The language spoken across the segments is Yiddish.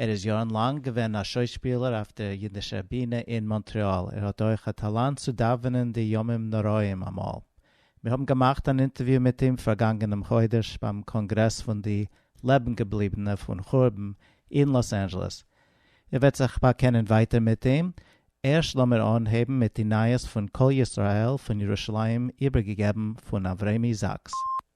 ער איז יארן לאנג געווען א שוישפילער אויף דער אידישער בינע אין מאנטרעאל, ער האט אויך א טאלאנט צו דאווענען די ימים נוראים אמאל. מיר האבן געמאכט אן אינטערוויו מיט אים פארגאנגענעם חודש ביים קאנגרעס פון די לעבן געבליבענע פון חורבן אין לאס אנדזשעלעס. איר וועט זיך באקענען ווייטער מיט אים. ערשט לאמיר אנהייבן מיט די נייעס פון קול ישראל פון ירושלים איבערגעגעבן פון אברעמי זאקס.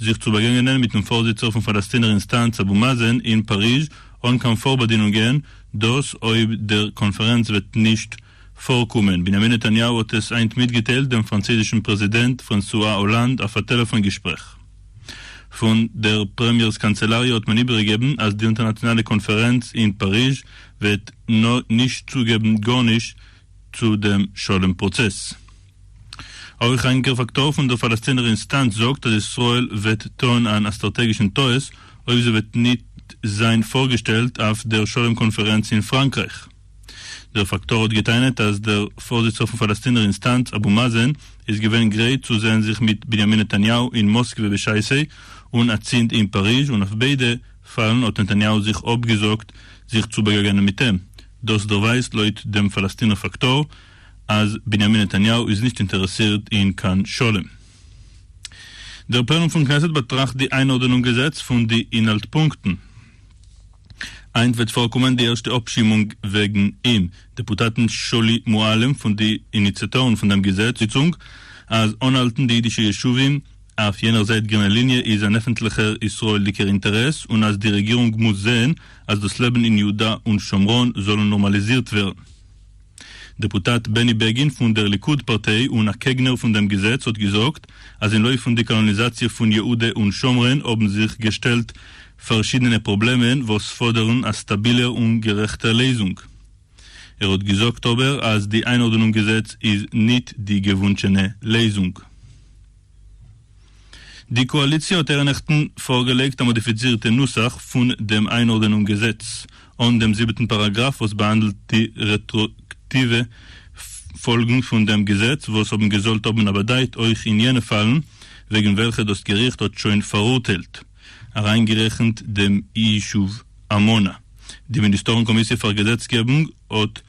זיך צו באגעגענען מיטן פארזיצער פון פאלעסטינער אינסטאנץ אבו מאזען אין פאריזש אן קיין פארבאדינונגען, דאס אויב דער קאנפערענץ וועט נישט פארקומען. בנימין נתניהו האט עס היינט מיטגעטיילט דעם פראנצויזישן פרעזידענט פרענסואה האלאנד אויף א טעלעפאן געשפרעך. פון דער פרעמיער'ס קאנצעלאריע האט מען איבערגעגעבן אז די אונטערנאציאנאלע קאנפערענץ אין פאריזש וועט נישט צוגעבן גארנישט צו דעם שלום פראצעס. אויך א ענקער פאקטאר פון דער פאלעסטינער אינסטאנץ זאגט אז ישראל וועט טון אן א סטראטעגישן טעות אויב זי וועט ניט זיין פארגעשטעלט אויף דער שלום קאנפערענץ אין פראנקרייך. דער פאקטאר האט געטענה'ט אז דער פארזיצער פון פאלעסטינער אינסטאנץ אבו מאזען איז געווען גרייט צו זעהן זיך מיט בנימין נתניהו אין מאסקווע בשעת סי און אצינד אין פאריזש און אויף ביידע פאלן האט נתניהו זיך אפגעזאגט זיך צו באגעגענען מיט אים. דאס דערווייזט לויט דעם פאלעסטינער פאקטאר, אז בנימין נתניהו איז נישט אינטערעסירט אין קיין שלום. דער פלענום פון כנסת באטראכט די איינארדענונג געזעץ פון די אינהאלט פונקטן. היינט וועט פארקומען די ערשטע אפשימונג וועגן אים. דעפוטאטן שולי מועלם פון די איניציאטארן פון דעם געזעץ זיצונג אז אנהאלטן די אידישע ישובים אויף יענער זייט גרינע ליניע איז אן עפנטליכער ישראל'דיגער אינטערעס און אז די רעגירונג מוז זען אז דאס לעבן אין יהודה און שומרון זאל נארמאליזירט ווערן. דעפוטאט בעני בעגין פון דער ליכוד פארטיי און א קעגנער פון דעם געזעץ האט געזאגט אז אין לויף פון די קאלאניזאציע פון יהודה און שומרון האבן זיך געשטעלט פארשידענע פראבלעמען וואס פאדערן א סטאבילער און גערעכטער לעזונג. ער האט געזאגט אבער אז די איינארדענונג געזעץ איז ניט די געוואונטשענע לעזונג. די קאאליציע האט אירע נעכטן פארגעלייגט א מאדיפיצירטע נוסח פון דעם איינארדענונג געזעץ אן דעם זיבעטן פאראגראף וואס באהאנדלט די רעטראאקטיווע פאלגן פון דעם געזעץ וואס האבן געזאלט האבן א באדייט אויך אין יענע פאלן וועגן וועלכע דאס געריכט האט שוין פאראורטיילט אריינגערעכנט דעם יישוב עמונה. די מיניסטארן קאמיסיע פאר געזעצגעבונג האט.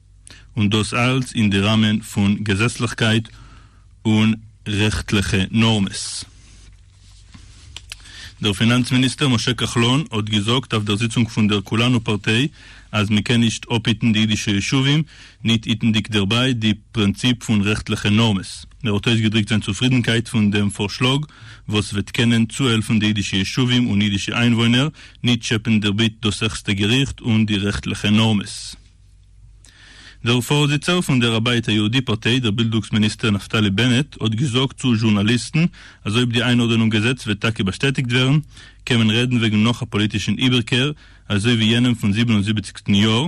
און דאס אלץ אין די ראמען פון געזעצליכקייט און רעכטליכע נארמעס. דער פינאנץ מיניסטער משה כחלון האט געזאגט אויף דער זיצונג פון דער כולנו פארטיי אז מען קען נישט אפהיטן די אידישע ישובים ניט היטנדיג דערביי די פרינציפ פון רעכטליכע נארמעס. ער האט אויסגעדריקט זיין צופרידנקייט פון דעם פארשלאג וואס וועט קענען צוהעלפן די אידישע ישובים און אידישע איינוואוינער ניט טשעפען דערביט דאס העכסטע געריכט און די רעכטליכע נארמעס. דער פארזיצער פון דער הבית היהודי פארטיי, דער בילדוגס מיניסטער נפתלי בנט, האט געזאגט צו זשורנאליסטן אז אויב די איינארדענונג געזעץ וועט טאקע באשטעטיגט ווערן, קען מען רעדן וועגן נאך א פאליטישן איבערקער אזוי ווי יענעם פון זיבן און זיבעציגסטן יאר,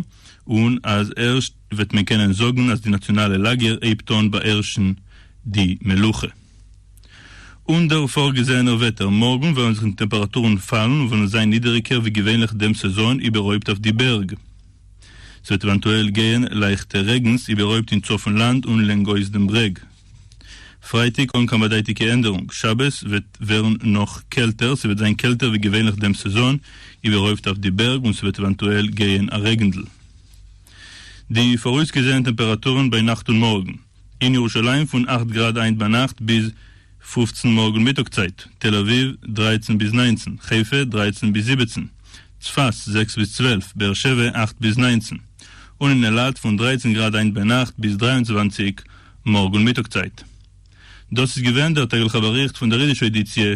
און אז ערשט וועט מען קענען זאגן אז די נאציאנאלע לאגער הייבט אן באהערשן די מלוכה. אן דער פארגעזעענער וועטער, מארגן וועלן זיך די טעמפעראטורן פאלן און וועלן זיין נידעריגער ווי געווענליך דעם סעזאן איבערהויפט אויף די בערג. ס'וועט עווענטועל גייען לייכטע רעגנס איבערהויפט אין צפון לאנד און לענגאויס דעם ברעג. פרייטאג אן קיין באדייטיגע ענדערונג. שבת וועט ווערן נאך קעלטער, ס'וועט זיין קעלטער ווי געווענליך דעם סעזאן, איבערהויפט אויף די בערג, און ס'וועט עווענטועל גייען א רעגנדל. די פאראויסגעזעענע טעמפעראטורן ביי נאכט און מארגן. אין ירושלים פון אכט גראד היינט ביינאכט ביז פֿופֿצן מארגן מיטאג צייט, תל אביב, דרײַצן ביז נײַנצן, חיפה, דרײַצן ביז זיבעצן, צפת, זעקס ביז צוועלף, באר שבע, אכט ביז נײַנצן, און אין אילת פון דרײַצן גראד היינט ביינאכט ביז דרײַ און צוואַנציק מארגן מיטאג צייט. דאס איז געווען דער טעגליכער באריכט פון דער אידישער עדיציע,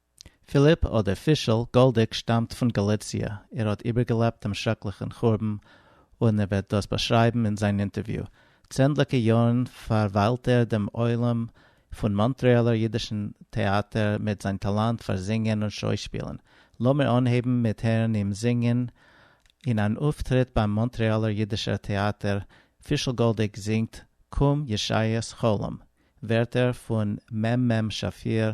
פיליפ אדער פישל גאלדיג שטאמט פון גאליציע, ער האט איבערגעלעבט דעם שרעקליכן חורבן און ער וועט דאס באשרייבן אין זיין אינטערוויו. צענדליגע יארן פארוויילט ער דעם עולם פון מאנטרעאלער אידישן טעאטער מיט זיין טאלאנט פאר זינגען און שוי-שפילן. לאמיר אנהייבן מיט הערן אים זינגען אין אן אויפטריט ביים מאנטרעאלער אידישער טעאטער, פישל גאלדיג זינגט קום ישעיה'ס חלום, ווערטער פון מ מ שפיר,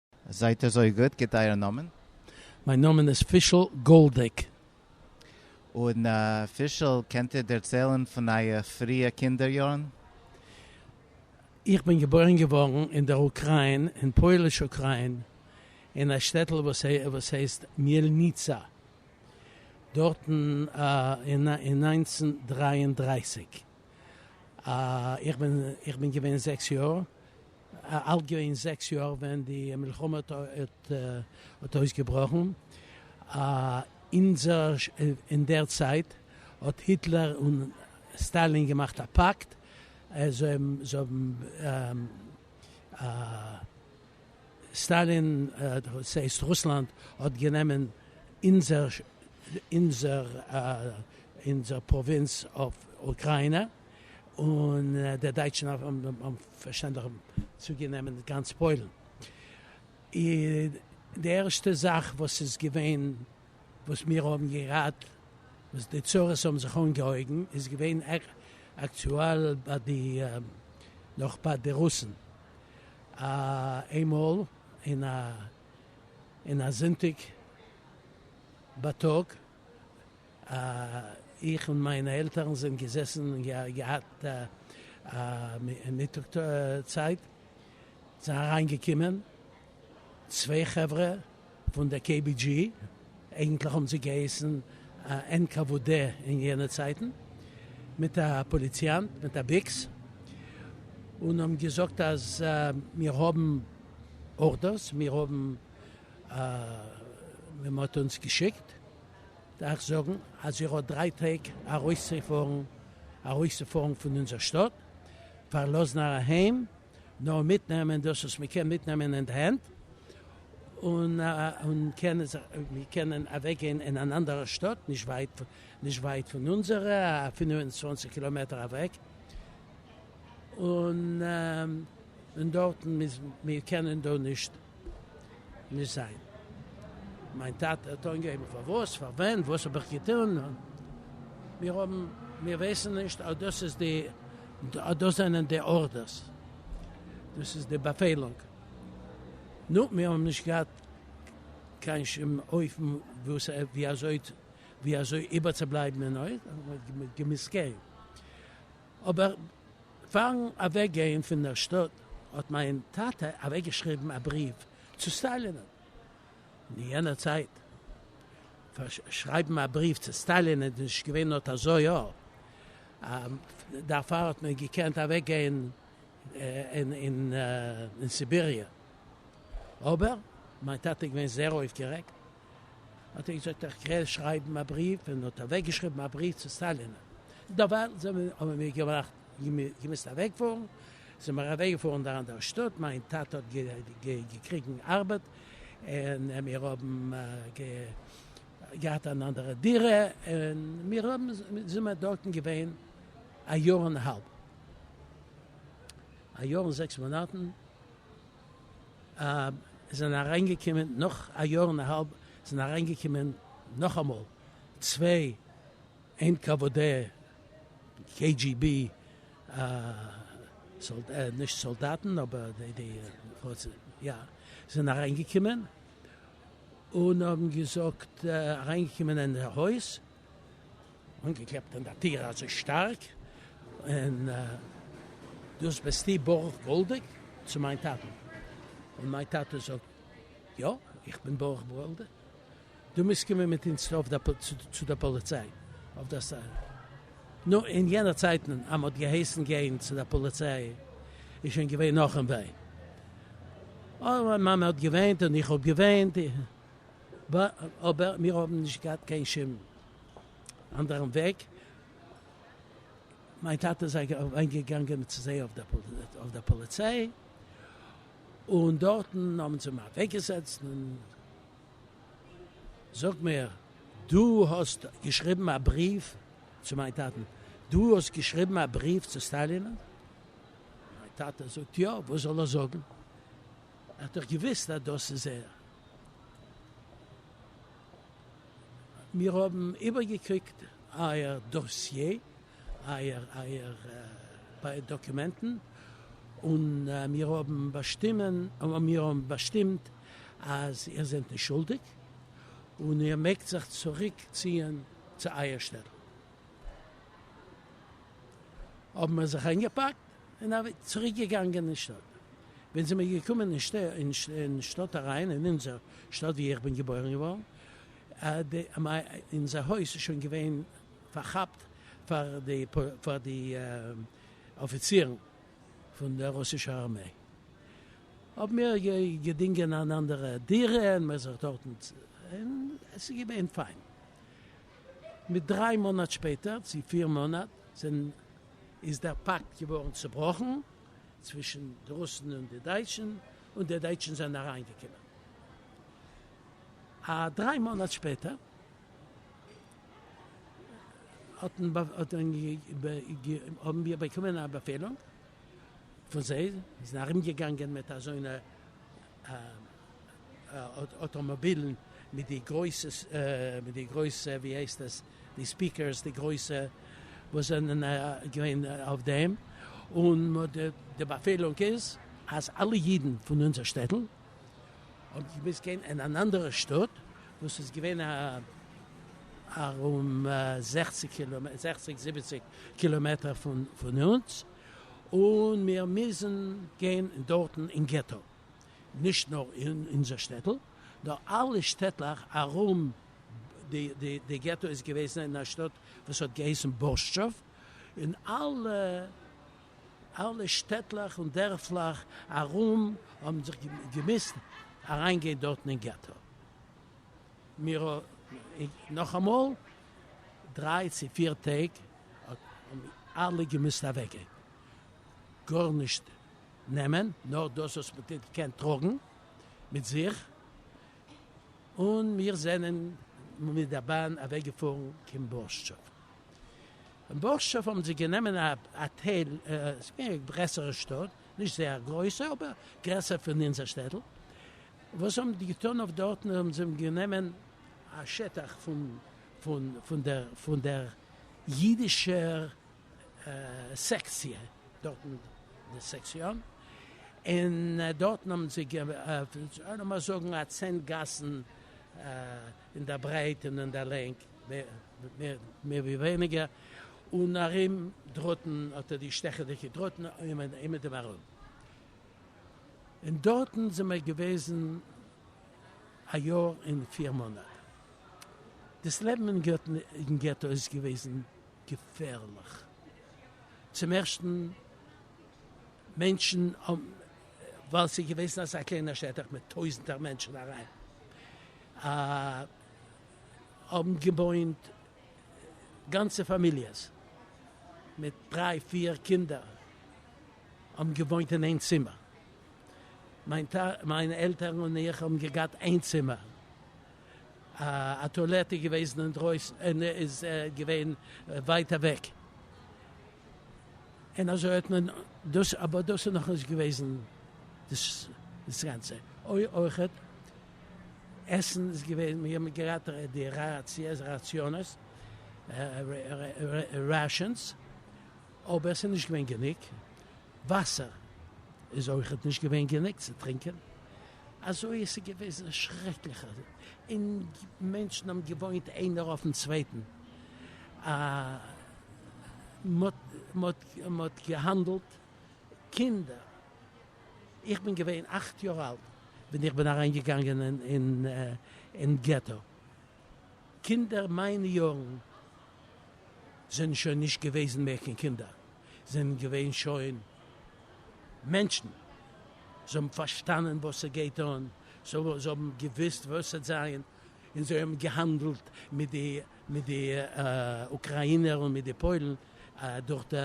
זייט אזוי גוט, גיט אייער נאמען. מיין נאמען איז פישל גאלדיג. און פישל, קענט איר דערציילן פון אייער פריע קינדער יארן? איך בין געבוירן געווארן אין דער אוקריין, אין פויליש אוקריין, אין א שטעטל וואס הייסט מיעלניצא, דארטן אין נײַנצן דרײַ און דרײַסיק. איך בין געווען זעקס יאר, אלט געווען זעקס יאר ווען די מלחמה האט אויסגעבראכן, אין דער צייט האט היטלער און סטאלין געמאכט א פאקט, סטאלין, דאס הייסט רוסלאנד, האט גענומען אונזער פראווינץ אויף אוקריינע, און די דייטשן האבן פארשטענדליך צוגענומען גאנץ פוילן. און די ערשטע זאך וואס איז געווען וואס מיר האבן געהאט וואס די צרות האבן זיך אנגעהויבן איז געווען אקטועל ביי די נאך ביי די רוסן. איינמאל אין א זונטאג בייטאג איך און מיינע עלטערן זענען געזעסן און געהאט א מיטאג צייט, זענען אריין געקומען צוויי חברה פון די קעי בי דזשי, אייגענטליך האבן זיי געהייסן ען קא וו דע אין יענע צייטן, מיט א פאליציאנט מיט א ביקס, און האבן געזאגט אז מיר האבן ארדערס, מיר האבן, מען האט אונז געשיקט. דארך זאגן אז איך האב דריי טעג ארויסצופארן ארויסצופארן פון אונזער שטאט, פארלאזן אהיים, נאר מיטנעמען דאס וואס מען קען מיטנעמען אין די הענט, און קענען זיך מיר קענען אוועק גיין אין אן אנדערע שטאט נישט ווייט נישט ווייט פון אונזערע, א פינף און צוואנציג קילאמעטער אוועק, און דארטן מיר קענען דא נישט. נישט זיין. מיין טאטע האט אנגעהויבן פארוואס, פארווען, וואס האב איך געטון? מיר האבן, מיר ווייסן נישט אז דאס איז די, אז דאס זענען די ארדערס, דאס איז די באפעלונג. נו, מיר האבן נישט געהאט קיין שום אופן וואס, ווי אזוי, ווי אזוי איבערצובלייבן אין אויך, מ'האט געמוזט גיין. אבער פארן אוועק גיין פון דער שטאט האט מיין טאטע אוועק געשריבן א בריוו צו סטאלינען. אין יענער צייט וואס שרייבן א בריוו צו סטאלינען איז נישט געווען אט אזוי א דערפאר האט מען געקענט אוועק גיין אין סיביריע. אבער מיין טאטע איז געווען זעהר אויפגערעגט. האט ער געזאגט איך גיי שרייבן א בריוו און האט אוועק געשריבן א בריוו צו סטאלין, דערווייל האבן מיר געמאכט געמוזט אוועק פארן, זענען מיר אוועק געפארן דארט אין דער שטאט, מיין טאטע האט געקריגן ארבעט און מיר האבן געהאט אן אנדערע דירה און מיר האבן זענען מיר דארטן געווען א יאר און האלב, א יאר און זעקס מאנאטן. אב זענען אריינגעקומען נאך א יאר און א האלב זענען אריינגעקומען נאכאמאל צוויי NKVD KGB נישט סאלדאטן אבער די יא זענען אריינגעקומען און האבן געזאגט אריינגעקומען אין די הויז אנגעקלעפט אין די טיר אזוי שטארק, און דאס ביסטו ברוך גאלדיג? צו מיין טאטן. און מיין טאטע זאגט, יא, איך בין ברוך גאלדיג, דו מוזט קומען מיט אונז צו די פאליציי אויף דער סטעישן. נו, אין יענע צייטן אז מ'האט געהייסן גיין צו די פאליציי איז שוין געווען נאכ'ן ווען. אוי, מיין מאמע האט געוויינט און איך האב געוויינט. ב אבער מיר האבן נישט געהאט קיין שום אנדערן וועג, מיין טאטע איז אליין געגאנגען צו זיי אויף דער פאליציי, און דארטן האבן זיי אים אוועקגעזעצט, און זאג מיר, דו האסט געשריבן א בריוו צו מיין טאטן? דו האסט געשריבן א בריוו צו סטאלינען? מיין טאטע זאגט יא, וואס זאל ער זאגן? ער האט דאך געוואוסט אז דאס איז ער. מיר האבן איבערגעקוקט אייער דאסיעי, אייער דאקומענטן, און מיר האבן באשטימט אז איר זענט נישט שולדיג, און איר מעגט זיך צוריק ציען צו אייער שטעטל. האבן מיר זיך איינגעפאקט און אַבי צוריק געגאַנגען אין שטאָט. ווען זענען מיר געקומען אין שטע אין שטאָט אַריין, אין אונדזער שטאָט, וואו איך בין געבוירן געוואָרן, די מיי אונדזער הויז איז שוין געווען פאַרכאַפּט פאַר די פאַר די אָפיצירן פון דער רוסישער אַרמיי. האָבן מיר גע געדינגען אַן אַנדערע דירה און מיר זיך דאָרטן צו און עס איז געווען פיין. מיט דריי מאָנאַט שפּעטער, צי פיר מאָנאַט, זענען. איז דער פאקט געווארן צובראכן צווישן די רוסן און די דייטשן, און די דייטשן זענען אריינגעקומען א דריי מאנאט שפעטער, האבן מיר באקומען א באפעלונג פון זיי, מיר זענען ארומגעגאנגען מיט אזוינע אוטאמאבילן מיט די גרויסע מיט די גרויסע ווי הייסט עס די ספיקערס די גרויסע וואס זענען געווען אויף דעם און די באפעלונג איז אז אלע אידן פון אונזער שטעטל האבן געמוזט גיין אין אן אנדערע שטאט וואס איז געווען ארום זעכציג קילאמעטער זעכציג זיבעציג קילאמעטער פון אונז און מיר מוזן גיין דארטן אין געטא נישט נאר אין אונזער שטעטל, נאר אלע שטעטלעך ארום די געטא איז געוועזן אין א שטאט וואס האט געהייסן בורשטשוב, און אלע שטעטלעך און דערפלעך ארום האבן זיך געמוזט אריין גיין דארטן אין געטא, מיר נאכאמאל דריי צו פיר טעג האבן אלע געמוזט אוועק גיין, גארנישט נעמען נאר דאס וואס מען טוט קען טראגן מיט זיך, און מיר זענען מיט דער באן אוועק געפארן קיין בורשטשוב. אין בורשטשוב האבן זיי גענומען א האטעל, עס איז געווען א גרעסערע שטאט, נישט זייער גרויסע, אבער גרעסער פון אונזער שטעטל. וואס האבן די געטון אויף דארטן, האבן זיי גענומען א שטח פון פון פון דער פון דער אידישער סעקציע דארט אין די סעקציאן, און דארטן האבן זיי געפענט לאמיר זאגן א צען גאסן אין דער ברייט און אין דער לענג, מער ווי ווייניגער, און ארום דראטן האט ער די שטעכעדיגע דראטן אומעטום ארום, און דארטן זענען מיר געוועזן א יאר און פיר מאנאט, דאס לעבן אין געטא איז געוועזן. געפערליך. צום ערשטן מענטשן האבן, ווייל ס'איז געוועזן אזא קליינער שטח מיט טויזנטער מענטשן אריין, האבן געוואוינט גאנצע פאמיליעס מיט דריי פיר קינדער האבן געוואוינט אין איין צימער. מיין עלטערן און איך האבן געגאט איין צימער א טואלעט איז געוועזן אינדרויסן און איז געווען ווייט אוועק און אזוי האט מען דאס אבער דאס איז נאכנישט געוועזן דאס גאנצע אויכעט עסן איז געווען מיר האבן געהאט די ראציעס ראציאנעס רעשענס אבער עס איז נישט געווען גענוג וואסער איז אויכעט נישט געווען גענוג צו טרינקען. אזוי עס איז געוועזן א שרעקליכע אין מענטשן האבן געוואוינט איינער אויפן צווייטן א מען האט געהאנדלט קינדער איך בין געווען אכט יאר אלט ווען איך בין אריין געגאנגען אין געטא קינדער מיינע יארן זענען שוין נישט געוועזן מער קיין קינדער זענען געווען שוין מענטשן, זיי האבן פארשטאנען וואס ס'גייט אן, זיי האבן געוואוסט וואס ס'וועט זיין, און זיי האבן געהאנדלט מיט די אוקראינער און מיט די פוילן דורך די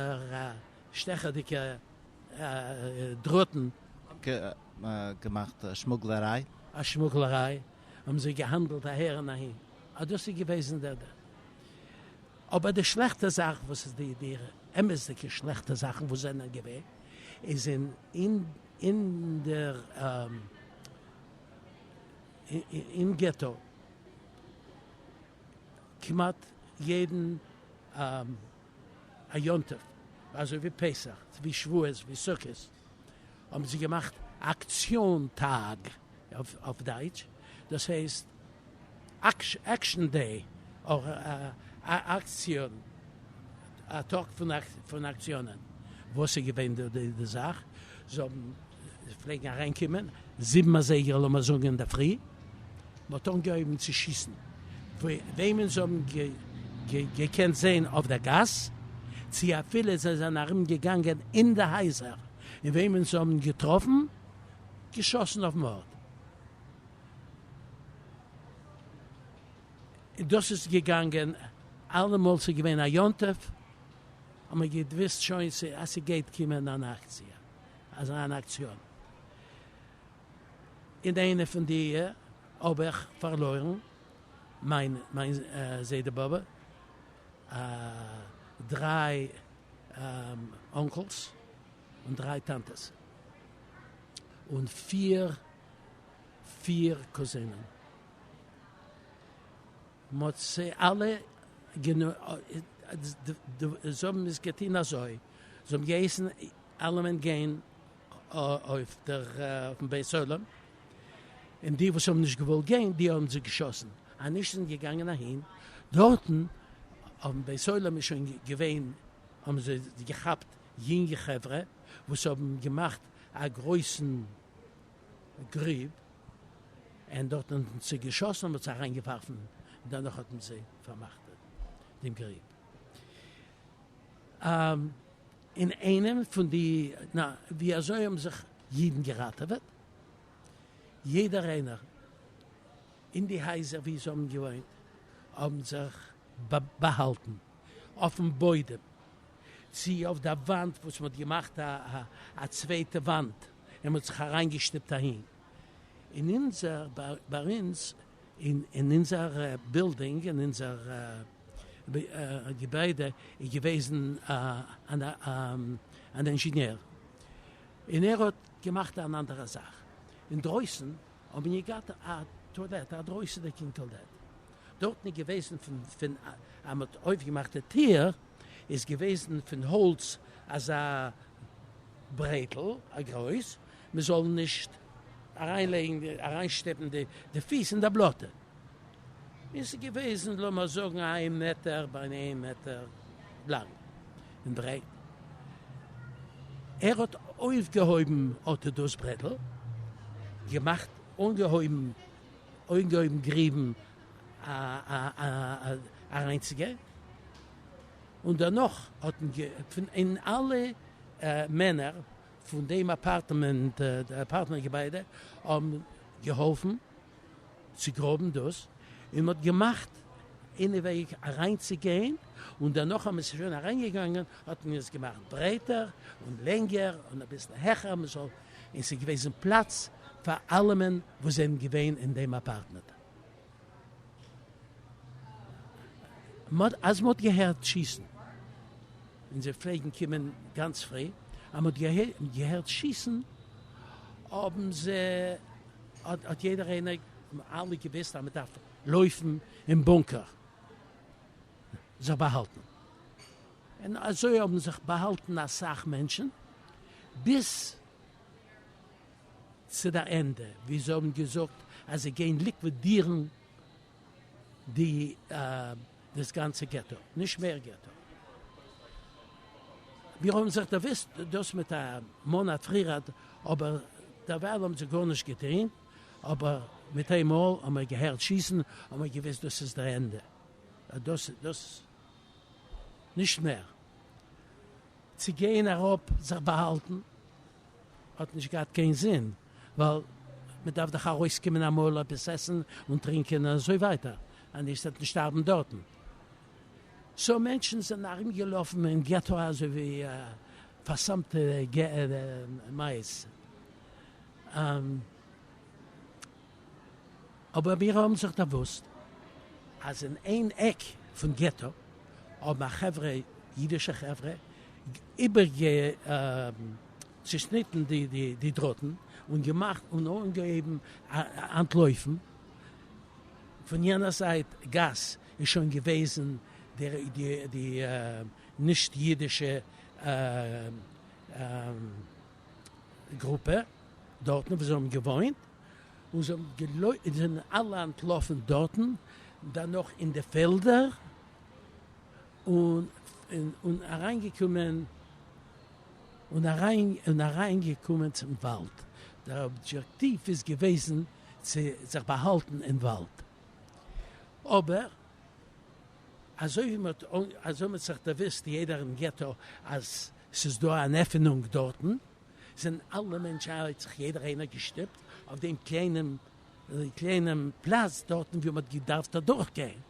שטעכעדיגע דראטן. געמאכט א שמוגלעריי. א שמוגלעריי, האבן זיי געהאנדלט אהער און אהין, אז דאס איז געוועזן דער. אבער די שלעכטע זאך וואס איז די די אמת'דיגע שלעכטע זאכן וואס זענען געווען איז אין אין אין דער אין געטא כמעט יעדן א יום טוב אזוי ווי פסח ווי שבועות ווי סוכות. האבן זיי געמאכט אקציאן טאג, אויף דייטש דאס הייסט עקשן דעי, אדער אקציאן, א טאג פון אקציאנען, וואס איז געווען די זאך, זיי פלעגן אריינקומען, זיבן אזייגער לאמיר זאגן אינדערפרי, מען האט אנגעהויבן צו שיסן וועמען זיי האבן געקענט זען אויף דער גאס, צי אפילו זיי זענען ארום געגאנגען אין די הייזער און וועמען זיי האבן געטראפן, געשאסן אויפן ארט. און דאס איז געגאנגען אלעמאל ס'איז געווען א יום טוב האט מען געוואוסט שוין אז ס'גייט קומען אן אקציע, אזא אן אקציאן. אין איינע פון די האב איך פארלוירן מיין מיין זיידע באבע, דריי אנקלס און דריי טאנטעס, און פיר פיר קוזינען, מ'האט זיי אלע גענומען, זיי האבן עס געטון אזוי, זיי האבן געהייסן אלעמען גיין אויף דעם בית עולם, און די וואס האבן נישט געוואלט גיין די האבן זיי געשאסן, אנישט זענען געגאנגען אהין, דארטן אויפן בית עולם איז שוין געווען, האבן זיי געכאפט יונגע חברה וואס האבן געמאכט א גרויסן גריב, און דארטן האט מען זיי געשאסן און מען האט זיי אריין געווארפן, דערנאך האט מען זיי פארמאכט דעם גריב. אין איינע פון די נא ווי אזוי האבן זיך אידן געראטעוועט? יעדער איינער אין די הייזער ווי זיי האבן געוואוינט האבן זיך באהאלטן אויפן בוידעם צי אויף דער וואנט וואס מ'האט געמאכט א צווייטע וואנט און מ'האט זיך אריינגעשטיפט אהין אין אונזער ביי אונז און אין אונזער בילדינג, אין אונזער געביידע איז געוועזן אן אינזשענער, און ער האט געמאכט אן אנדערע זאך, אינדרויסן האט מען געהאט א טואלעט, א דרויסענדיגן טואלעט, דארטן איז געוועזן ווען מען האט אויפגעמאכט די טיר, איז געוועזן פון האלץ אזא ברעטל א גרויס מען זאל נישט אריין לייגן אריין שטעפן די פיס אין די בלאטע איז עס געוועזן לאמער זאגן איין מעטער ביי איין מעטער לאנג און ברייט ער האט אויפגעהויבן אט דאס ברעטל געמאכט אנגעהויבן אנגעהויבן גריבן. אריינצוגע און דערנאך האט מען געפונ אין אלע מענער פון דעם אפארטמענט אפארטמענט געביידע האבן געהאלפן צו גראבן דאס און מען האט געמאכט אין וועג אריינצוגיין און דערנאך אז מען איז שוין אריינגעגאנגען האט מען עס געמאכט ברייטער און לענגער און אביסל העכער מען זאל און ס'איז געוועזן פלאץ פאר אלעמען וואס זענען געווען אין דעם אפארטמענט. אז מ'האט געהערט שיסן, אונזער פלעגן קומען גאנץ פרי, אז מ'האט געהערט שיסן האבן זיי, האט יעדער איינער, אלע געוויסט אז מ'דארף לויפן אין בונקער זיך באהאלטן, און אזוי האבן זיך באהאלטן אסאך מענטשן ביז. צו די ענדע ווי זיי האבן געזאגט אז זיי גייען ליקווידירן די דאס גאנצע געטא, נישט מער געטא. מיר האבן זיך דערוואוסט דאס מיט א מאנאט פרירעד אבער דערווייל האבן זיי גארנישט געטוהן, אבער מיט איין מאל האבן מיר געהערט שיסן האבן מיר געוויסט דאס איז די ענדע, דאס איז דאס נישט מער צו גיין אראפ זיך באהאלטן. האט נישט געהאט קיין זין, ווייל מען דארף דאך ארויסקומען אמאל עפעס עסן און טרינקען און אזוי ווייטער, אנישט וועט מען שטארבן דארטן. סאו מענטשן זענען ארום געלאפן אין געטא אזוי ווי פאר'סמ'טע מייז. אבער מיר האבן זיך דערוואוסט אז אין איין עק פון געטא האבן א חברה, אידישע חברה, איבערגעצושניטן די דראטן און געמאכט און אנגעהויבן אנטלויפן. פון יענער זייט גאס איז שוין געוועזן די נישט אידישע גרופע דארטן וואו זיי האבן געוואוינט, און זיי האבן געלויפט, און זיי זענען אלע אנטלאפן דארטן, דערנאך אין די פעלדער, און אריינגעקומען, און אריין, און אריינגעקומען צום וואלד, דער אבדזשעקטיוו איז געוועזן צו זיך באהאלטן אין וואלד, אבער אזוי ווי מ'האט, אזוי האט זיך דערוואוסט יעדער אין געטא אז ס'איז דא אן עפענונג דארטן, זענען אלע מענטשן, האט זיך יעדער איינער געשטופט אויף דעם קליינעם קליינעם פלאץ דארטן ווי מ'האט געדארפט אדורך גיין,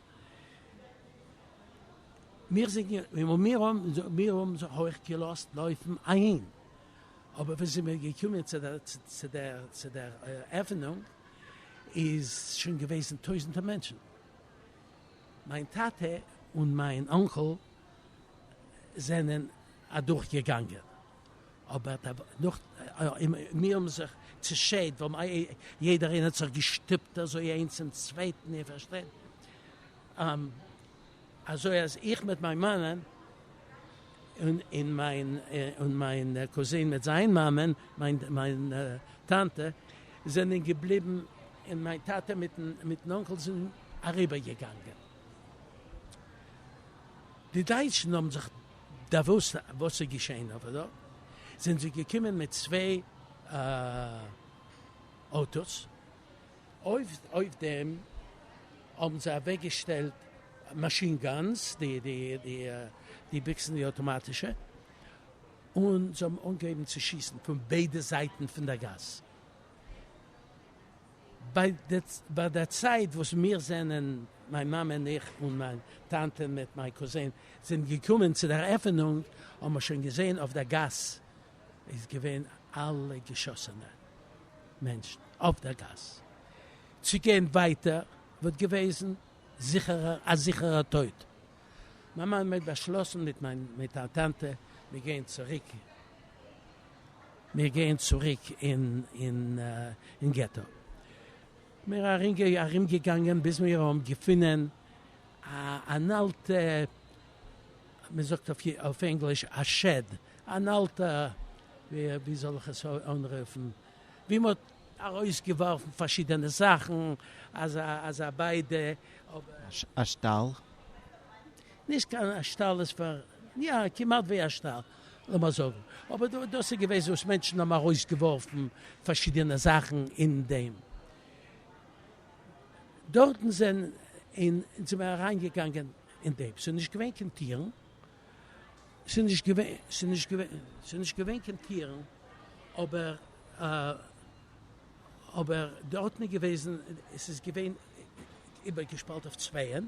מיר זענען און מיר האבן מיר האבן זיך אויך געלאזט לויפן אהין, אבער ווען זעמיר געקומען צו דער צו דער צו דער עפענונג איז שוין געוועזן טויזנטער מענטשן, מיין טאטע און מיין אנקל. זענען אדורך געגאנגען אבער די נאכט און מיר האבן זיך צושערט ווייל יעדער איינער האט זיך געשטופט אזוי איינס צום צווייטן איר פארשטייט אזוי אז איך מיט מיין מאמען און מיין און מיין קוזין מיט זיין מאמען מיין טאנטע זענען געבליבן און מיין טאטע מיטן מיטן אנקל זענען אריבער געגאנגען. די דייטשן האבן זיך דעוואוסט וואס איז געשעהן אויף דא, זענען זיי געקומען מיט צוויי אויטאס, אויף דעם האבן זיי אוועק געשטעלט מאשין גאנס, די ביקסן די אויטאמאטישע, און זיי האבן אנגעהויבן צו שיסן פון ביידע זייטן פון די גאס. ביי דער צייט וואס מיר זענען, מיין מאמע און איך און מיין טאנטע מיט מיין קוזין, זענען געקומען צו דער עפענונג, האבן מיר שוין געזען אויף דער גאס איז געווען אלע געשאסענע מענטשן אויף דער גאס. צו גיין ווייטער וואלט געוועזן זיכערער א זיכערער טויט. מיין מאמע האט באשלאסן מיט מיין טאנטע, מיר גייען צוריק. מיר גייען צוריק אין געטא. מיר ארום געגאנגען ביז מיר האבן געפונען אן אלטע, מען זאגט אויף ענגליש א שעד, אן אלטע ווי זאל איך עס אנרופן, ווי מען האט ארויס געווארפן פארשידענע זאכן, אזא ביידע. א שטאל? נישט קיין שטאל, עס וואר יא כמעט ווי א שטאל. לאמיר זאגן אבער דא דאס איז געוועזן וואס מענטשן האבן ארויס געווארפן פארשידענע זאכן אין דעם דארטן זענען אין זענען מיר אריין געגאנגען אין דעם ס'איז נישט געווען קיין טירן ס'איז נישט געווען ס'איז נישט געווען ס'איז נישט געווען קיין טירן אבער אבער דארטן איז געוועזן עס איז געווען איבערגעשפאלט אויף צווייען.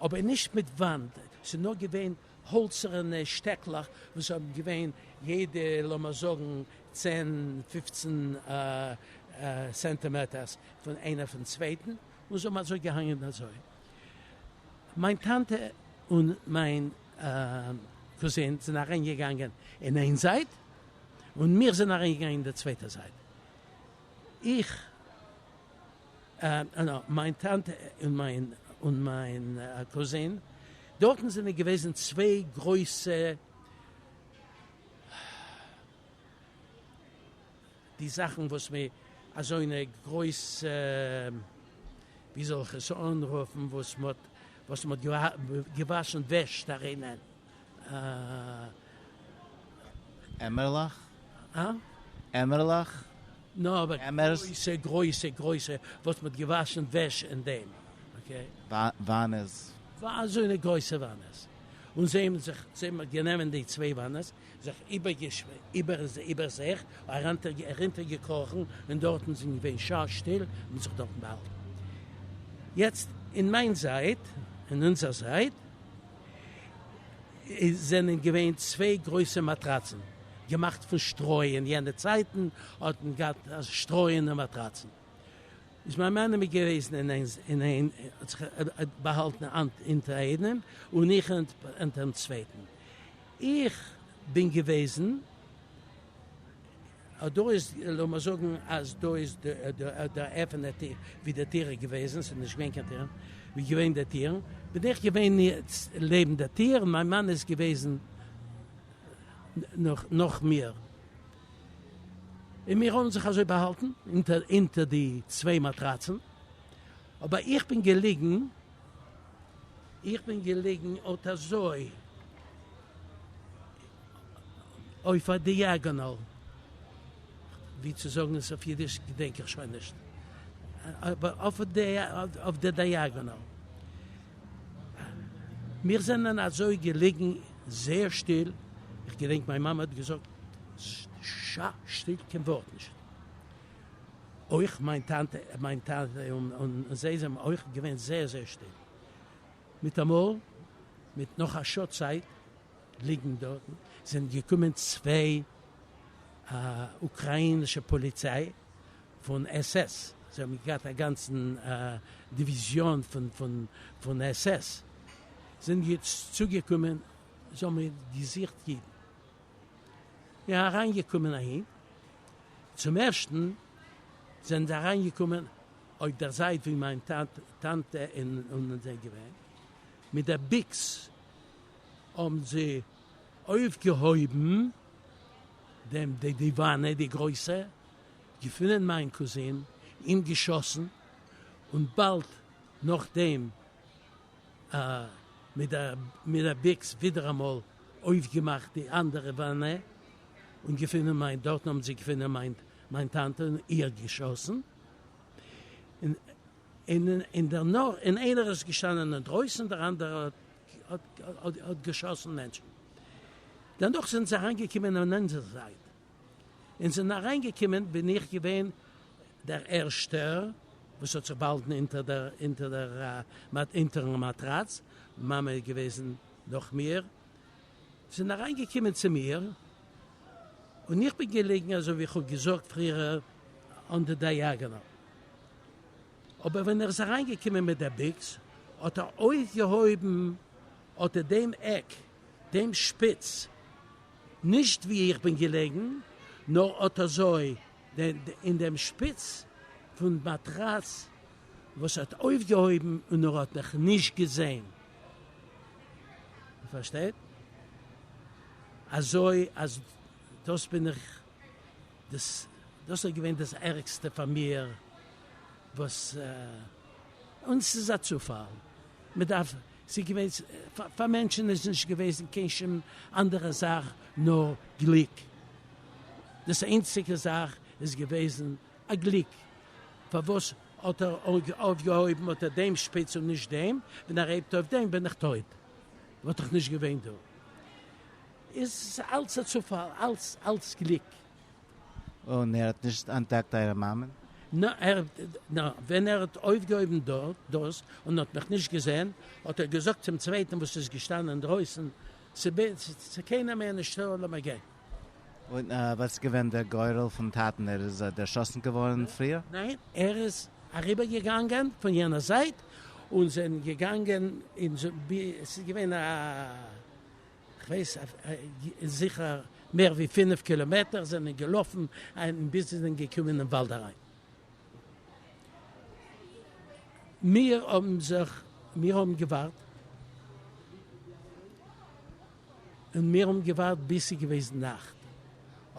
אבער נישט מיט וואנט, ס'איז נאר געווען האלצערענע שטעקלעך וואס האבן געווען יעדע לאמיר זאגן צען פופצן סענטימעטערס פון איינער פון צווייטן, און זיי האבן אזוי געהאנגען אזוי. מיין טאנטע און מיין קוזין זענען אריין געגאנגען אין איין זייט, און מיר זענען אריין געגאנגען אין די צווייטע זייט. איך. מיין טאנטע און מיין און מיין קוזין, דארטן זענען געוועזן צוויי גרויסע, די זאכן וואס מען, אזוינע גרויסע, ווי זאל איך עס אנרופן, וואס מען האט געוואשן וועש דערינען. אה. עמערלעך? אה? עמערלעך? נאו אבער עמערס? גרויסע גרויסע גרויסע וואס מ'האט געוואשן וועש אין דעם, אקעי. וואנעס? אזוינע גרויסע וואנעס. און זיי האבן זיך זיי גענומען די צוויי וואנעס, זיך איבערזעך ארונטער געקראכן און דארטן זענען געווען שא שטיל און מ'האט זיך דארטן באהאלטן. יעצט אין מיין זייט, אין אונזער זייט. עס זענען געווען צוויי גרויסע מאטראצן געמאכט פון שטרוי, אין יענע צייטן האט מען געהאט שטרויענע מאטראצן, איז מיין מאמע מיט געוועזן אין איינס אין איין האט זיך באהאלטן אונטער איינעם און איך אונטערן צווייטן, איך בין געוועזן. דא איז, לאמיר זאגן אז דא איז דער אפענער טיר, ווי די טיר איז געוועזן, ס'איז נישט געווען קיין טיר, ווי געווען די טיר, בין איך געווען לעבן די טיר, און מיין מאן איז געוועזן נאך מיר, און מיר האבן זיך אזוי באהאלטן אונטער די צוויי מאטראצן, אבער איך בין געליגן, איך בין געליגן אט אזוי, אויף א דיאגאנאל, ווי צו זאגן עס אויף אידיש געדענק איך שוין נישט, אבער אויף די דיאגאנאל. מיר זענען אזוי געליגן זייער שטיל, איך געדענק מיין מאמע האט געזאגט שא שטיל קיין ווארט נישט, אויך מיין טאנטע מיין טאטע און זיי זענען אויך געווען זייער זייער שטיל, מיטאמאל מיט נאך א שעה צייט ליגן דארט זענען געקומען צוויי אוקראינישע פאליציי פון עס עס, זיי האבן געהאט א גאנצן דיוויזיאן פון עס עס, זענען צוגעקומען, זיי האבן געזוכט אידן, זענען אריינגעקומען אהין, צום ערשטן זענען זיי אריינגעקומען אויף דער זייט ווי מיין טאנטע און זיי געווען, מיט די ביקס. האבן זיי אויפגעהויבן דעם די די וואנע די גרויסע, געפונען מיין קוזין, אים געשאסן, און באלד נאכדעם א מיט א מיט א ביקס ווידעראמאל אויפגעמאכט די אנדערע וואנע, און געפונען מיין דארטן האבן זיי געפונען מיין מיין טאנטע און איר געשאסן, און און און דערנאך און איינער איז געשטאנען אינדרויסן דער אנדערער האט האט געשאסן מענטשן, דערנאך זענען זיי אריינגעקומען און אונזער זייט און זענען אריינגעקומען בין איך געווען דער ערשטער וואס האט זיך באהאלטן אונטערן מאטראץ, מאמע איז געוועזן נאך מיר, זענען אריינגעקומען צו מיר און איך בין געלעגן אזוי ווי איך האב געזאגט פריער אן די דייאגאנאל. אבער ווען ער איז אריינגעקומען מיט דער ביקס האט ער אויפגעהויבן אטע דעם עק דעם שפיץ, נישט ווי איך בין געלעגן, נאר אט אזוי, אין דעם שפיץ פון מאטראץ וואס ער האט אויפגעהויבן און ער האט מיך נישט געזען. איר פארשטייט? אזוי אז דאס בין איך. דאס דאס איז געווען דאס ערגסטע פאר מיר וואס און ס'איז א צופאל מ'דארף ס'איז געווען פאר מענטשן איז נישט געוועזן קיין שום אנדערע זאך נאר גליק דאס איינציגע זאך איז געוועזן א גליק פארוואס האט ער אויפגעהויבן האט ער דעם שפיץ און נישט דעם ווען ער הייבט אויף דעם בין איך טויב וואלט איך נישט געווען דא. איז אלץ א צופאל, אלץ אלץ גליק. און ער האט נישט אנטדעקט אייער מאמען? נא, ער, נא, ווען ער האט אויפגעהויבן דארט דאס און האט מיך נישט געזען, האט ער געזאגט צום צווייטן וואס איז געשטאנען אינדרויסן, ס'איז קיינער מער נישטא, לאמיר גיין. און וואס איז געווען דער גורל פון טאטן? ער איז דערשאסן געווארן פריער? ניין, ער איז אריבערגעגאנגען פון יענער זייט, און זענען געגאנגען, און ס'איז געווען א כ'ווייס אויף זיכער מער ווי פינף קילאמעטער זענען געלאפן אהן ביז זיי זענען געקומען אין וואלד אריין. מיר האבן זיך מיר האבן געווארט און מיר האבן געווארט ביז ס'איז געוועזן נאכט,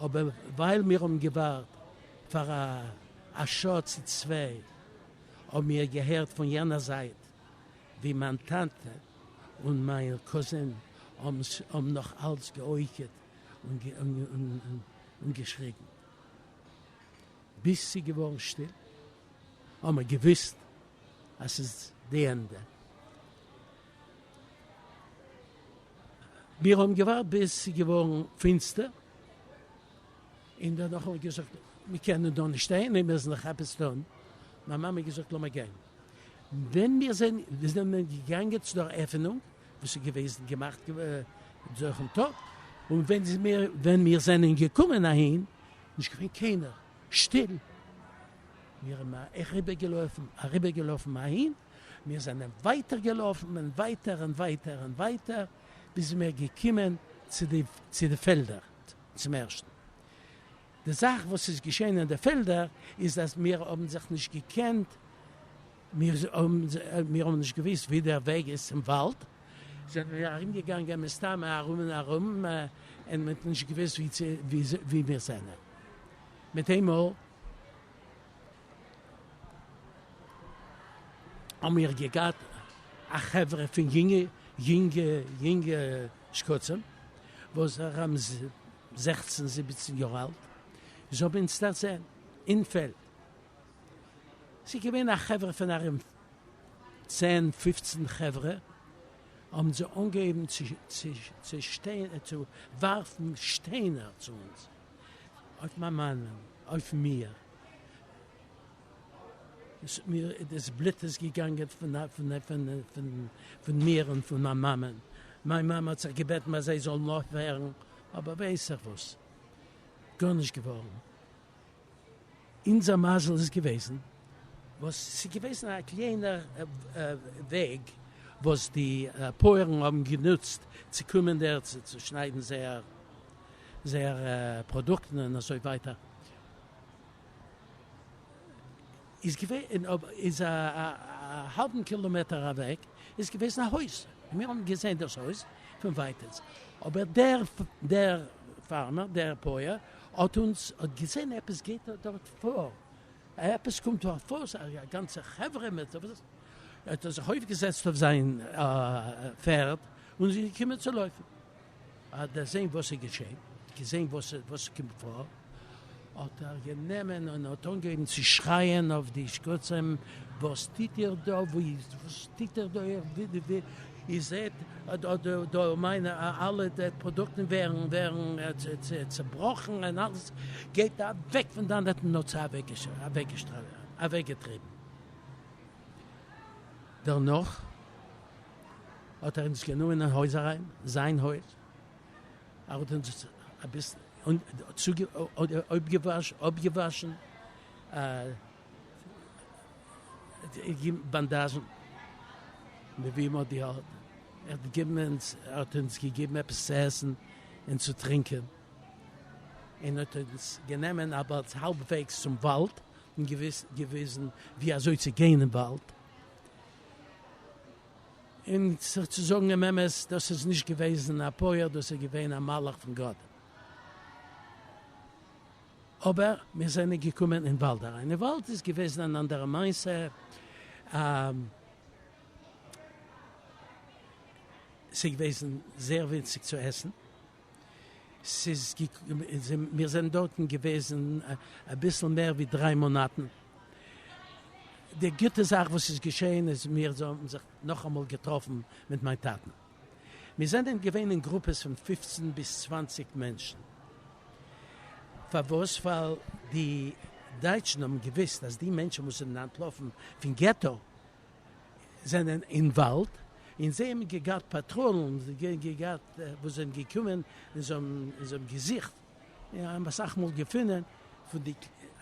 אבער ווייל מיר האבן געווארט פאר א שעה צו צוויי האבן מיר געהערט פון יענער זייט ווי מיין טאטע און מיין קאזין האבן נאך אלץ גע'עוקעט און געשריגן ביז ס'איז געווארן שטיל, האבן מיר געוואוסט אז ס'איז די ענדע. מיר האבן געווארט ביז ס'איז געווארן פינסטער, און דערנאך האבן מיר געזאגט, מיר קענען דא נישט שטיין, מיר מוזן זיך עפעס טון. מיין מאמע האט געזאגט, לאמיר גיין. ווען מיר זענען געגאנגען צו דער עפענונג, וואס איז געוועזן געמאכט דורכן טאג, און ווען מיר זענען געקומען אהין, נישט געווען קיינער, שטיל. מיר האבן אריבערגעלויפן, אריבערגעלאפן אהין, מיר זענען ווייטער געלאפן, און ווייטער, און ווייטער, און ווייטער, ביז מיר געקומען צו די פעלדער צום ערשטן. די זאך וואס איז געשען אין די פעלדער איז אז מיר האבן זיך נישט געקענט, מיר האבן נישט געוואוסט ווי דער וועג איז צום וואלד, זענען מיר ארום געגאנגען מסתמא ארום און ארום, און מען האט נישט געוואוסט ווי צו ווי מיר זענען, מיט איינמאל האבן מיר געגאט א חברה פון יונגע יונגע שקצים וואס האבן זעכצן זיבעצן יאר אלט איז האבן אונז דערזען אין פעלד, ס'איז געווען א חברה פון ארום צען פופצן חברה, האבן זיי אנגעהויבן צו ווארפן שטיינער צו אונז, אויף מיין מאן און אויף מיר, דאס בלוט איז געגאנגען פון מיר און פון מיין מאמע, מיין מאמע האט זיך געבעטן אז זיי זאלן אויפהערן, אבער ווייס איך וואס, גארנישט געווארן. אונזער מזל איז געוועזן וואס ס'איז געוועזן א קליינער וועג וואס די פויערן האבן גענוצט צו קומען דערצו צו צושניידן זייער פראדוקטן און אזוי ווייטער. איז געווען אין אויב איז א האלבן קילאמעטער אוועק איז געוועזן א הויז און מיר האבן געזעהן דאס הויז פון ווייטענס אבער דער דער פארמער דער פויער האט אונז האט געזעהן עפעס גייט דארט פאר עפעס קומט דארט פאר א גאנצע חברה מיט האט ער זיך אויפגעזעצט אויף זיין פערד און איז געקומען צו לויפן. האט דערזען וואס איז געשען, געזען וואס קומט פאר, האט ער גענומען און האט אנגעהויבן צו שרייען אויף די שקצים, וואס טוט איר דא, וואס טוט איר דא, איר זעט דא מיינע אלע פראדוקטן ווערן צעבראכן און אלעס, גייט אוועק פון דאן, האט אים נאצע אוועקגעטריבן, דערנאך. האט ער אונז גענומען אין הויז אריין, זיין הויז, ער האט אונז אביסל אפגעוואשן, געגעבן באנדאזשן, ער האט אונז געגעבן עפעס צו עסן און צו טרינקען, און האט אונז גענומען אביסל האלבוועגס צום וואלד און געוויזן ווי אזוי צו גיין אין וואלד, און זיך צו זאגן דעם אמת, דאס איז נישט געוועזן א פויער, דאס איז געווען א מלאך פון גאט. אבער מיר זענען געקומען אין וואלד אריין, אין וואלד איז געוועזן אן אנדערע מעשה, ס'איז געוועזן זייער ווינציג צו עסן, מיר זענען דארטן געוועזן אביסל מער ווי דריי מאנאטן, די גוטע זאך וואס איז געשעהן איז מיר האבן זיך נאכאמאל געטראפן מיט מיין טאטן, מיר זענען געווען אין גרופעס פון פופצן ביז צוואנציג מענטשן, פארוואס? ווייל די דייטשן האבן געוויסט אז די מענטשן וואס זענען אנטלאפן פון געטא זענען אינוואלווד און זיי האבן געגאט פאטראלן געגאט וואס זענען געקומען און זיי האבן געזוכט און האבן אסאך מאל געפונען פון די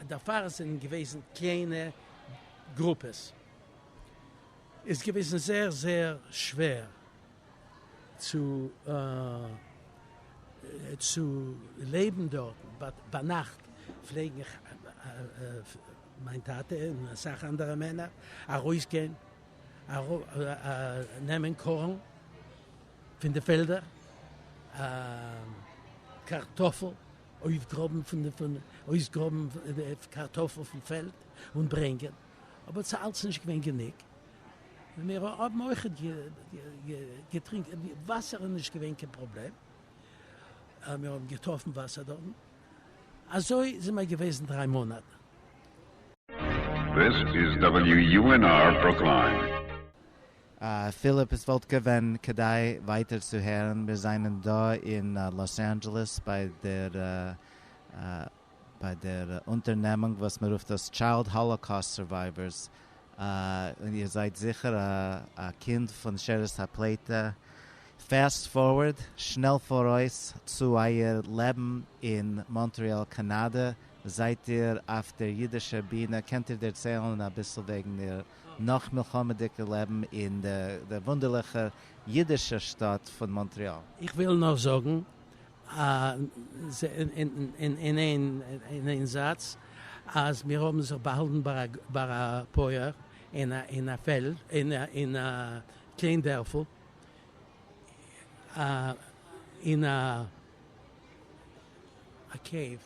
דערפאר זענען געוועזן קליינע גרופעס איז געוועזן זייער זייער שווער צו צו לעבן דארטן באט ביינאכט פלעגן מיין טאטע און אסאך אנדערע מענער ארויסגיין נעמען קארן פון די פעלדער, קארטאפל אויפגראבן פון אויסגראבן קארטאפל פון פעלד און ברענגען, אבער ס'איז אלץ נישט געווען גענוג, מיר האבן אויך געטרינקען וואסער איז נישט געווען קיין פראבלעם, מיר האבן געטראפן וואסער דארטן. אזוי זענען מיר געוועזן דריי מאנאט. דעס איז WUNR ברוקליין. פיליפ, עס וואלט געווען כדאי ווייטער צו הערן, מיר זענען דא אין לאס אנדזשעלעס ביי דער ביי דער אונטערנעמונג וואס מען רופט דאס טשיילד האלאקאוסט סורווייווערס, און איר זייט זיכער א קינד פון שארית הפליטה, פעסט פארווארד, שנעל פאראויס, צו אייער לעבן אין מאנטריאל קאנאדע, זייט איר אויף דער אידישער בינע, קענט איר דערציילן אביסל וועגן איר נאך-מלחמה'דיגע לעבן אין דער וואונדערליכער אידישער שטאט פון מאנטריאל? איך וויל נאר זאגן אין איין זאץ, אז מיר האבן זיך באהאלטן ביי א פויער אין א פעלד, אין א קליין דערפל, אין א קעיוו,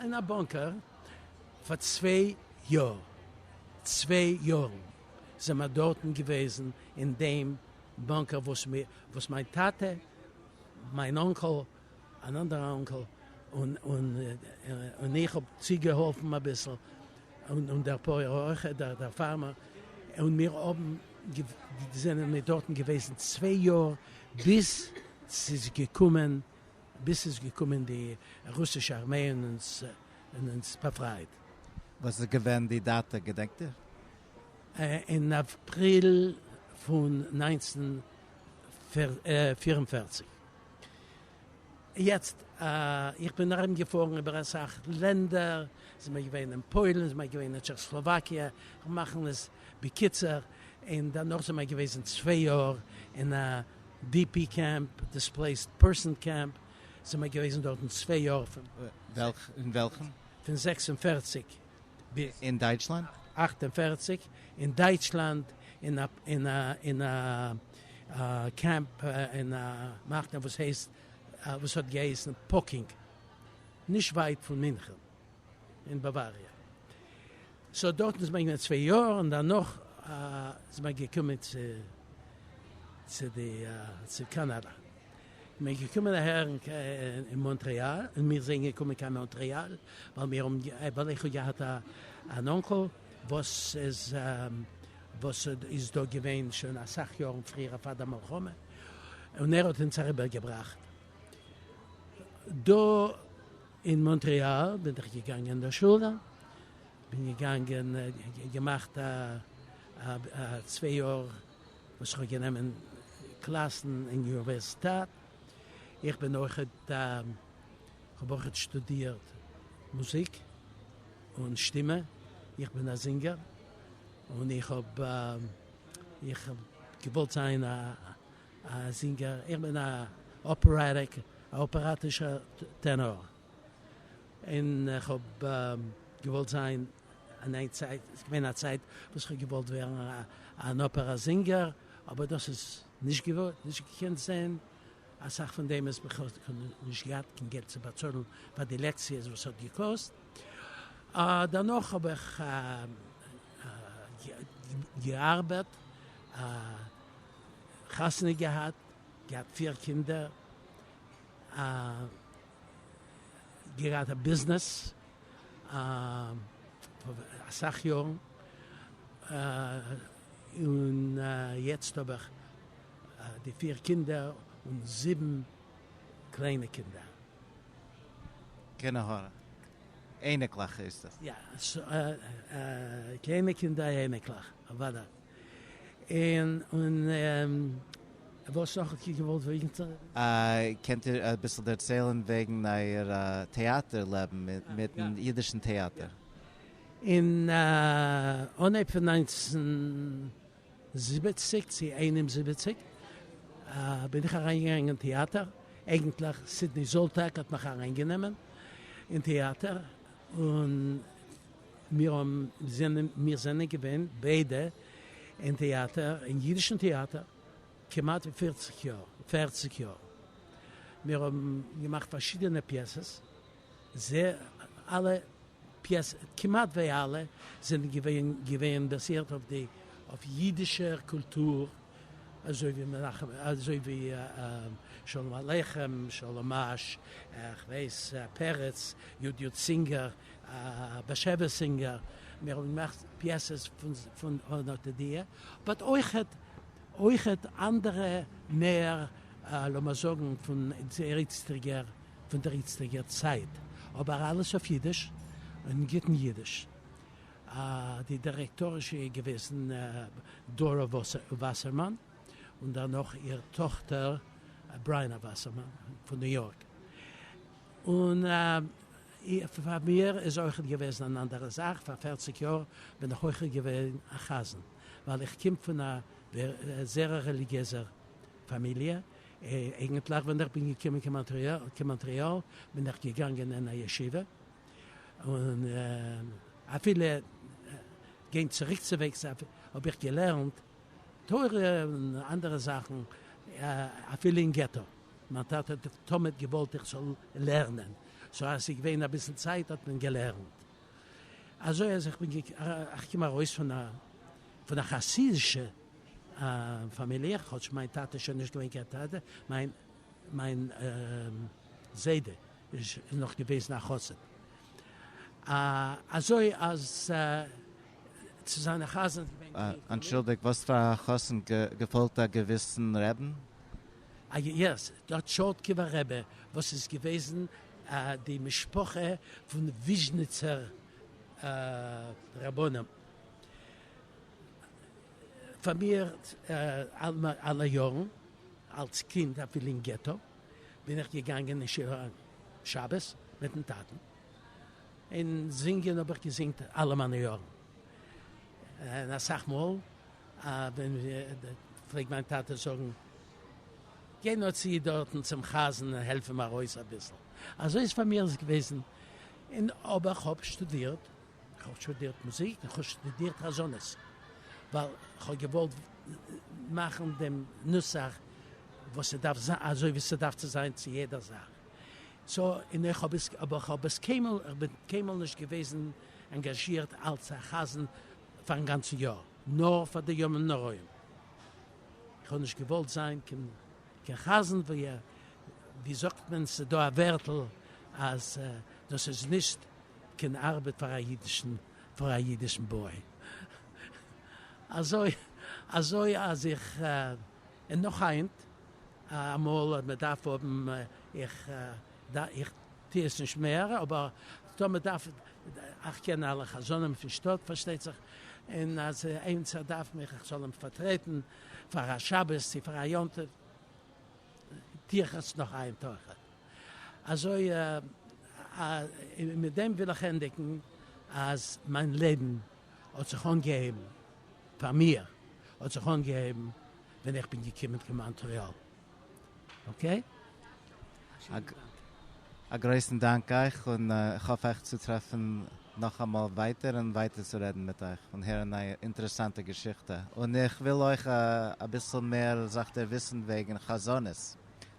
אין א באנקער פאר צוויי יאר, צוויי יארן זענען מיר דארטן געוועזן אין דעם באנקער וואס מיין טאטע, מיין אנקעל, אן אנדערע אנקעל און איך האב צוגעהאלפן אביסל, און דער פויער אויך, דער פארמער, און מיר האבן, זענען מיר דארטן געוועזן צוויי יאר ביז ס'איז געקומען, ביז ס'איז געקומען די רוסישע ארמיי און אונז, און אונז באפרייט. וואס איז געווען די דאטע, געדענקט איר? אין אפריל פון נײַנצן הונדערט פֿיר און פֿערציק. יעצט איך בין ארום געפארן איבער אסאך לענדער, זעמער געווען אין פוילן, זעמער געווען אין טשעכסלאוואקיע, כ'וועל מאכן עס בקיצור, און דערנאך זעמער געוועזן צוויי יאר אין א די פי קעמפ, דיספלעיסד פערסאן קעמפ, זעמער געוועזן דארטן צוויי יאר, פון וועלכן? פון זעקס און פֿערציק. אין דייטשלאנד? אַכט און פֿערציק, אין דייטשלאנד אין א קעמפ אין א מחנה וואס הייסט וואס האט געהייסן פאקינג נישט ווייט פון מינכן אין באוואריע סאו דארטן איז מען געווען צוויי יאר און דערנאך איז מען געקומען צו צו די צו קאנאדא מיר געקומען אהער אין מאנטריאל, און מיר זענען געקומען קיין מאנטריאל ווייל מיר האבן, ווייל איך האב געהאט אן אנקל וואס איז, וואס איז דא געווען שוין אסאך יארן פריער פאר די מלחמה, און ער האט אונז אריבערגעבראכט דא אין מאנטריאל, בין איך געגאנגען אין די שולע, בין געגאנגען געמאכט א צוויי יאר וואס איך האב גענומען קלאסן אין יוניווערסיטעט, איך בין אויכעט, איך האב אויכעט שטודירט מוזיק און שטימע, איך בין א זינגער, און איך האב איך האב געוואלט זיין א זינגער, איך בין א אפערעטיק, א אפעראטישער טענאר. און איך האב געוואלט זיין, אין איין צייט איז געווען א צייט וואס איך האב געוואלט ווערן אן אפערא זינגער, אבער דאס איז נישט געווארן, נישט געקענט זען, אסאך פון דעם איז בכלל נישט געהאט קיין געלט צו באצאלן פאר די לעקציעס וואס האט געקאסט, דערנאך האב איך געארבעט, חתונה געהאט, געהאט פיר קינדער. געהאט א ביזנעס פאר אסאך יארן, און יעצט האב איך די פיר קינדער און זיבן קליינע קינדער. קינעהר אייניקלעך הייסט עס? יא, קליינע קינדער אייניקלעך, אוודאי. און וואס נאך האט איר געוואלט וויסן? קענט איר אביסל דערציילן וועגן אייער טעאטער לעבן מיטן אידישן טעאטער? אין אנהייב פון נײַנצן זיבעציק צו איין און זיבעציק בין איך אריינגעגאנגען אין טעאטער, אייגנטליך סידני זאלטאק האט מיך אריינגענומען אין טעאטער, און. מיר זענען מיר זענען געווען ביידע אין טעאטער, אין יידישן טעאטער, כמעט ווי פֿערציק יאר, פֿערציק יאר. מיר האבן געמאכט פארשידענע פיעסעס, זעה אלע פיעסע, כמעט ווי אלע, זענען געווען געווען באזירט אויף די אויף יידישער קולטור, אזוי ווי מנחם, אזוי ווי שלום עליכם, שלום אש, איך ווייס, פרץ, יו ד יו ד סינגער, א באשעוויס זינגער, מיר האבן געמאכט פיעסעס פון האנאטע דיע, באט אויכעט אויכעט אנדערע מער לאמער זאגן פון דער איצטיגער פון דער איצטיגער צייט, אבער אלעס אויף אידיש און גוטן אידיש. די דירעקטאריש איז געוועזן דארא וואסערמאן, און דערנאך איר טאכטער בריינא וואסערמאן פון ניו יארק, און. פאר מיר איז אויכעט געוועזן אן אנדערע זאך פאר פערציג יאר בין איך אויכעט געווען א חזן ווייל איך קום פון א זערא רעליגיעזע פאמיליע, אייגענטליך ווען איך בין געקומען קיין מאנטריאל בין איך געגאנגען אין א ישיבה און אפילו גיין צוריקצווועגס האב איך געלערנט תורה און אנדערע זאכן אפילו אין געטא. מיין טאטע האט תמיד געוואלט איך זאל לערנען, סאו אז ס'איז געווען אביסל צייט האט מען געלערנט. אזוי אז איך בין געקומען ארויס פון א פון א חסידישע פאמיליע, כאטש מיין טאטע איז שוין נישט געווען קיין טאטע, מיין מיין זיידע איז נאך געוועזן א חסיד. אזוי אז צו זיין א חזן איז געווען גרינג פאר מיר. אנטשולדיגט, וואס פאר א חזן געפאלט א געוויסן רעבן? א יעס, דער טשורטקובער רבי וואס איז געוועזן די משפחה פון וויזשניצער רבנים פאר מיר אלע יארן אלץ קינד אפילו אין געטא בין איך געגאנגען אין שיעור שבת מיטן טאטן און זינגען האב איך געזינגט אלע מיינע יארן און אסאך מאל פלעגט מיין טאטע זאגן, גיי נאר צו דארטן צום חזן און העלף אים ארויס אביסל. אזוי איז פאר מיר עס געוועזן, און אבער כ'האב שטודירט, כ'האב שטודירט מוזיק און כ'האב שטודירט חזנות, ווייל כ'האב געוואלט מאכן דעם נוסח וואס ס'דארף זיין, אזוי ווי ס'דארף צו זיין צו יעדער זאך. סא, און איך האב עס, אבער כ'האב עס קיינמאל, כ'בין קיינמאל נישט געוועזן אנגאזשירט אלס א חזן, פארן גאנצן יאר, נאר פאר די ימים נוראים. איך האב נישט געוואלט זיין קיין חזן, ווי זאגט מען, ס'דא א ווערטל אז דאס איז נישט קיין ארבעט פאר א אידישן, פאר א אידישן באי. אזוי אזוי אז איך, און נאך היינט, אמאל מען דארף האבן, איך איך. טו עס נישט מער, אבער טאמער מען דארף, איך קען אלע חזנים פון שטאט פארשטייט זיך, און אז עימצער דארף מיך איך זאל אים פארטרעטן פאר א שבת צו פאר א יום טוב, טו איך עס נאך איין טרחה. אזוי און מיט דעם וויל איך ענדיגן אז מיין לעבן האט זיך אנגעהויבן, פאר מיר האט זיך אנגעהויבן ווען איך בין געקומען צו מאנטריאל, אקעי. א גרויסן דאנק אייך און איך האף אייך צו טרעפן נאכאמאל ווייטער און ווייטער צו רעדן מיט אייך און הערן אייער אינטערעסאנטע געשיכטע און איך וויל אויך אביסל מער זיך דערוויסן וועגן חזנות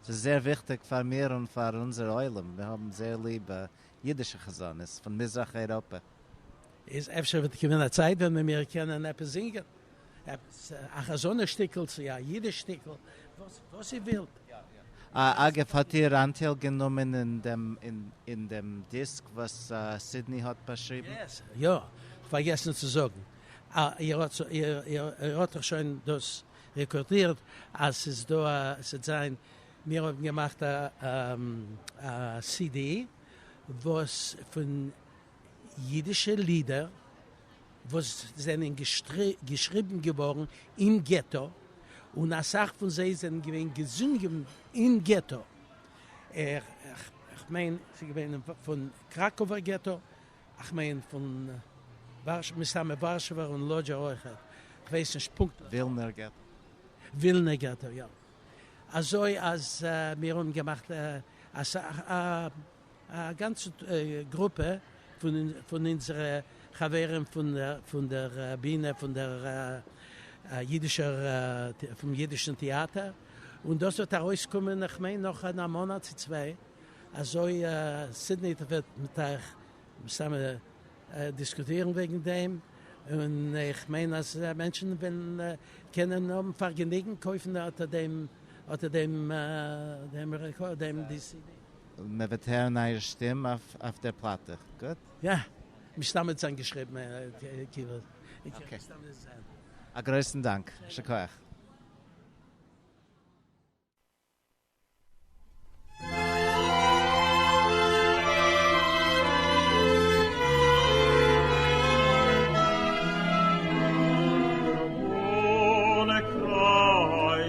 ס'איז זייער וויכטיג פאר מיר און פאר אונזער עולם מיר האבן זייער ליב אידישע חזנות פון מזרח אייראפע. איז אפשר וועט קומען א צייט ווען מען מיר קענען עפעס זינגען עפעס א חזנות שטיקל צו א אידיש שטיקל וואס איר ווילט. אגב, האט איר אנטייל גענומען אין דעם דיסק וואס סידני האט באשריבן? יעס, יא, כ'פארגעסן צו זאגן, איר האט דאך שוין דאס רעקארדירט אז ס'איז דא א, ס'וועט זיין, מיר האבן געמאכט א סידי וואס פון. ייִדישע לידער וואָס זענען געשריבן געוואָרן אין געטאָ, און אַ סך פֿון זיי זענען געווען געזונגען אין געטאָ. איך מיין, ס'איז געווען פֿון קראַקאָווער געטאָ, איך מיין, פֿון וואַרשע, מסתּמא וואַרשעווער און לאָדזשער אויך, איך ווייס נישט פּונקטליך. ווילנער געטאָ. ווילנער געטאָ, יאָ. אַזוי אַז מיר האָבן געמאַכט אַ סך, אַ א גאנצע גרופע פון אונזערע חברים פון דער בינע פון דער אידישער פון אידישן טעאטער, און דאס וועט ארויסקומען איך מיין נאך אין א מאנאט צו צוויי, אזוי סידני וועט מיט אייך מסתם דיסקוטירן וועגן דעם, און איך מיין אז מענטשן וועלן קענען האבן פארגעניגן קויפן אטער דעם אטער דעם דעם די סידי. מען וועט הערן אייער שטים אויף דער פלאטע, גוט? יא, מסתמא האט עס איינגעשריבן כאילו. אקעי. א גרויסן דאנק. שכוח.